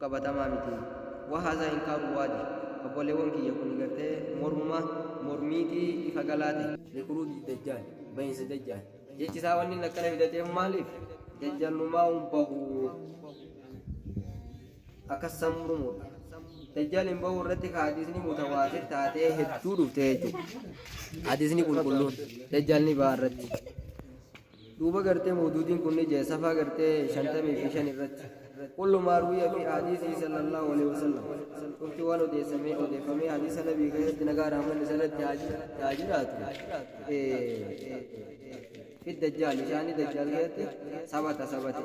qabatamaa miti. Wa haadha inkaaru waadih. Obboleewwan kiyya kuni gartee mormuma mormiiti ifa galaa tahe. Likhuruuji dajjaal, bahinsa dajjaal. Jechi isaa wanni inni akkana fidateef maaliif? Dajjaal numaa hin bahu. Akkas san murmuudha. Dajjaal hin bahu irratti ka hadiisni mutawaatir taatee hedduu dhufte jechuudha. Hadiisni qulqulluun dajjaal ni baha irratti. Duuba gartee mawduudiin kunni jee safaa gartee shantamii fi shan irratti kullu maa ruwiya fi ahadiisihi sallallahu aleyhi wasallam cufti waan odeessamee odeeffamee hadiisa nabii keessatti nagaa rahmanni isarratti haa jiraatu fi dajjaal ishaanii dajjaal keessatti sabata sabate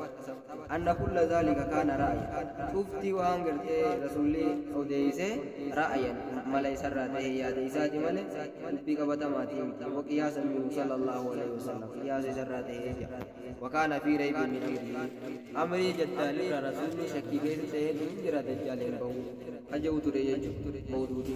anna kulla zaalika kaana ra'aya cuftii waan gartee rasuulli odeeyse ra'ayan mala isarraa ta'e yaada isaati male dubbii qabatamaatii miti waqiyaasa minhu sallallahu alaihi wasallam qiyaasa isarraa ta'e jedha wakaana fi raybi min amrii amrii jaddaal irra rasuulli shakkii keessa ta'eetu hin jira dajjaal hin bahu kaja'u ture jechu mawduuti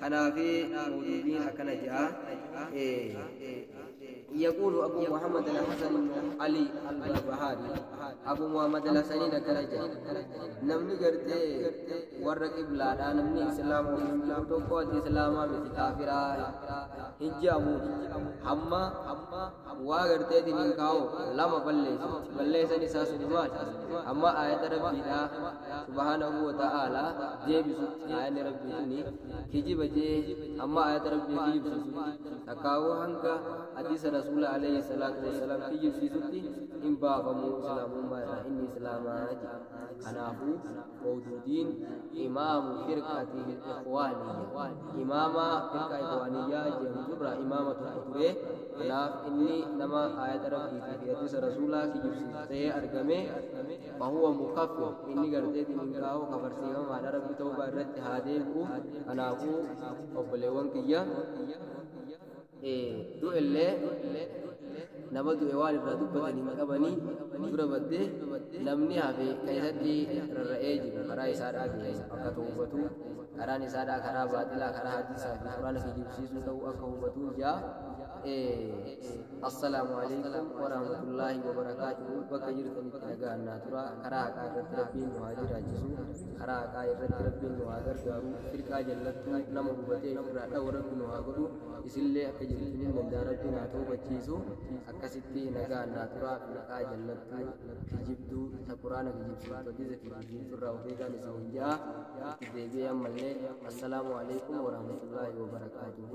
Kanaafi mawduudni akkana je'a, e. Yaquulu Abuu Muhammad Al-Hasan Ibnu Alii Al-Barbahaarii, Abuu Muhammad Al-Hasaniin akkana je'a, Namni gartee warra qiblaadhaa namni Islaama waliin jiru tokko ati Islaamaa miti kaafiraa hin je'amuun hamma waa garteetiin hin kaa'u lama balleessiti balleessan isaa suni maal amma aayata rabbiidha subhaanahu wa ta'aala deebisutti aayanni rabbii suni kijiba jee amma aayata rabbii kijibsiisutti takkaawuu hanga hadiisa rasuula alayhi salaatu wasalaam kijibsiisutti hin baafamu islaamummaa irraa inni islaamaa jedhe kanaafuu Mawduudiin imaamu firqati ikhwaaniyya imaama firqa ikhwaaniyyaa jedhamtu irraa imaama tokko ture kanaaf inni nama aayata rabbiitii fi hadiisa rasuulaa kijibsiisu ta'ee argame fahuwa mukaffir inni gartee dininkaa'oo kafarsiifamaadha rabbi ta'uubaa irratti haa deebi'u kanaafuu obboleewwan kiyya du'ellee nama du'e waan irraa dubbatan hin qabanii dura baddee namni hafe kan isatti rarra'ee jiru karaa isaadhaa ga'e akka to'ubatu karaan isaadhaa karaa baaxilaa karaa hadiisaa fi quraana kijibsiisuu ta'uu akka hubatuu jaa assalaamu alaikum warahmatullaahi wabarakaatuhu bakka jirtanitti nagaan naa tura karaa haqaa irratti rabbiin nu haa jiraachisu karaa haqaa irratti rabbiin nu haa gargaaru firqaa jallattuu nama hubatee irraa dhawu rabbi nu haa godhu isillee akka jirtun hin danda'a rabbiin haa toobachiisu akkasitti nagaan naa turaa maqaa jallattuu kijibduu ta quraana kijibsiiftu hadiisa kijibsiiftu irraa of eegaan isiniin ja'a itti deebi'ee ammallee assalaamu alaikum warahmatullaahi wabarakaatuhu